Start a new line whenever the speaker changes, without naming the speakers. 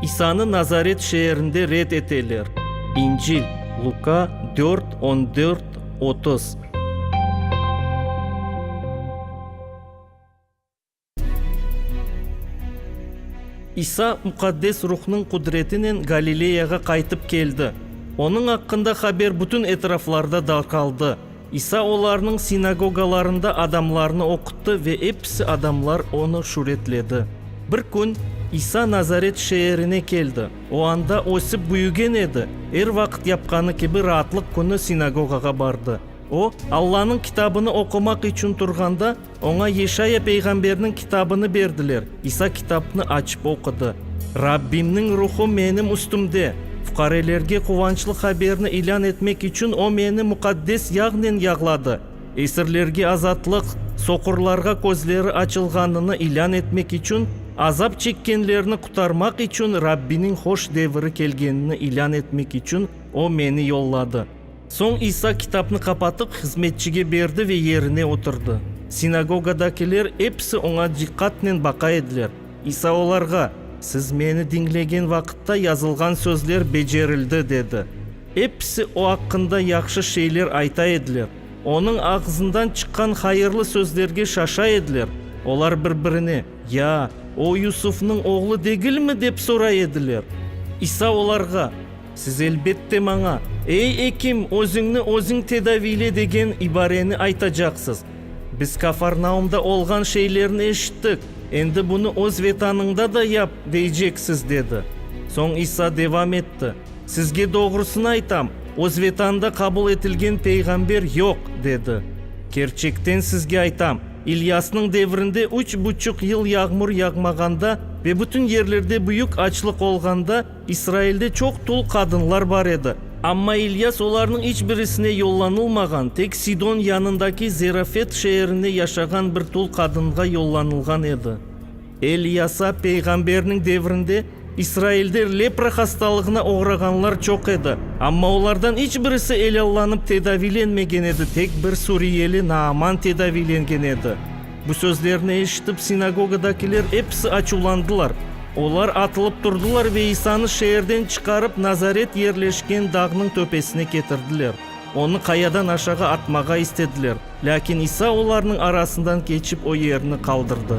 İsanı Nazaret şeerinde red eteler. İncil, Luka dört, on dört, otuz. İsa Muqaddes Ruhnıñ qudretinen Galileyağa qaytıp keldi. Onıñ aqqında haber bütün etraflarda darqaldı. İsa olarnıñ sinagogalarında adamlarnı oquttı ve episi adamlar onı şüretledi. Bir kün İsa Nazaret şeerine keldi. O anda ösip büyügen edi, er vaqıt yapqanı kibi Raatlıq künü sinagogağa bardı. O, Allanıñ Kitabını oqumaq içün turğanda, Oña Yeşaya peyğamberniñ kitabını berdiler. İsa kitapnı açıp oqudı, Rabbimniñ Ruhu menim üstümde, fuqarelerge quvançlı haberni ilân etmek içün o meni muqaddes yağnen yağladı, esirlerge azatlıq, soqurlarğa közleri açılğanını ilân etmek içün, azap çekkenlerni qutarmaq içün Rabbiniñ hoş deviri kelgenini ilân etmek içün o meni yolladı. Soñ İsa kitapnı qapatıp, hızmetçige berdi ve yerine oturdı. Sinagogadakiler episi oña diqqatnen baqa ediler. İsa olarğa, Siz meni diñlegen vaqıtta yazılğan sözler becerildi, dedi. Episi o aqqında yahşı şeyler ayta ediler. Onıñ ağzından çıqqan hayırlı sözlerge şaşa ediler. Olar bir-birine, Ya, o Yusufnıñ oğlu degilmi? dep soray ediler. İsa olarğa. Siz elbette maña, Ey, ekim, özüñni özüñ tedaviyle degen ibareni aytacaqsız. Biz Kafarnaumda olğan şeylerni eşittik, endi bunı öz Vetanıñda da yap, deyceksiz, dedi. Soñ İsa devam etti, Sizge doğrusını aytam, öz Vetanında qabul etilgen peyğamber yoq, dedi. Kerçekten sizge aytam, İlyasnıñ devrinde üç buçuq yıl yağmur yağmağanda ve bütün yerlerde büyük açlıq olğanda, İsrailde çoq tul qadınlar bar edi. Amma İlyas olarnıñ iç birisine yollanılmağan, tek Sidon yanındaki Zerafet şeerinde yaşağan bir tul qadınğa yollanılğan edi. Elyasa peyğamberniñ devrinde İsrailde lepra hastalığına oğrağanlar çoq edi, amma olardan iç birisi elâllanıp tedaviylenmegen edi, tek bir suriyeli Naaman tedaviylengen edi. Bu sözlerni eşitip, sinagogadakiler episi açuvlandılar. Olar atılıp turdılar ve İsanı şeerden çıqarıp, Nazaret yerleşken dağnıñ töpesine ketirdiler. Onı qayadan aşağı atmağa istediler, lâkin İsa olarnıñ arasından keçip, o yerni qaldırdı.